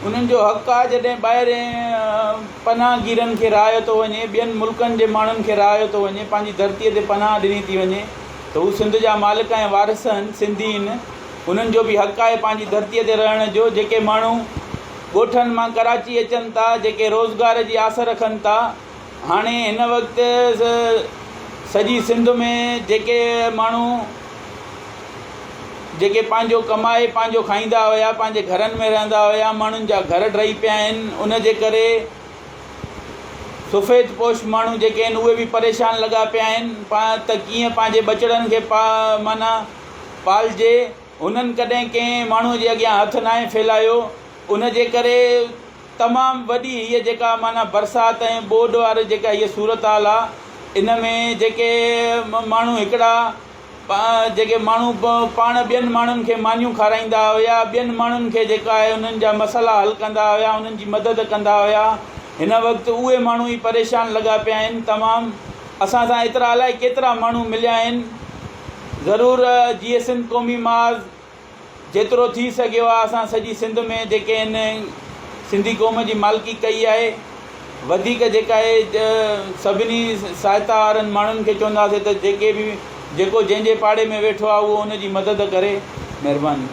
انهن جو حق آهي جڏهن ٻاهرين پناهگيرن کي رهايو ٿو وڃي، ٻين ملڪن جي ماڻهن کي رهايو ٿو وڃي، پنهنجي ڌرتي تي پناهه ڏني ٿي وڃي ته هو سنڌ جا مالڪ ۽ وارث آهن، سنڌي آهن، انهن جو به حق آهي پنهنجي ڌرتي تي رهڻ جو، جيڪي ماڻهو ڳوٺن مان ڪراچي اچن ٿا، جيڪي روزگار جي آس رکن ٿا. هاڻي هن وقت سڄي سنڌ ۾ جيڪي ماڻهو جيڪي پنهنجو ڪمائي پنهنجو کائيندا هيا پنهنجي گهرن ۾ رهندا هيا ماڻهن جا گهر ڊهي پيا آهن ان جي ڪري سفيد پوش ماڻهو جيڪي آهن اهي به پريشان لڳا پيا آهن پا ته ڪيئن پنهنجي ٻچڙن کي پا معنيٰ پالجي هنن ڪڏهن ڪنهن ماڻهو جي اڳيان هٿ ناهي ڦيلايو ان جي ڪري تمام وڏي هيء جيڪا معنيٰ برسات ۽ ٻوڏ واري جيڪا هيء صورتحال آ ان ۾ جيڪي ماڻهو هڪڙا جيڪي ماڻهو پاڻ ٻين ماڻهن کي مانيون کارائيندا هيا ٻين ماڻهن کي جيڪا آهي انهن جا مسئلا حل ڪندا هيا انهن جي مدد ڪندا هيا هن وقت اهي ماڻهو ئي پريشان لڳا پيا آهن تمام اسان سان ايترا الائي ڪيترا ماڻهو مليا آهن ضرور جيئي سنڌ قومي محاذ جيترو ٿي سگهيو آهي اسان سڄي سنڌ ۾ جيڪي هن سنڌي قوم جي مالڪي ڪئي آهي وڌيڪ جيڪا اهي سڀني سهائتا وارن ماڻهن کي چونداسين ته جيڪي به جيڪو جنهن جي پاڙي ۾ ويٺو آهي اهو ان جي مدد ڪري مهرباني.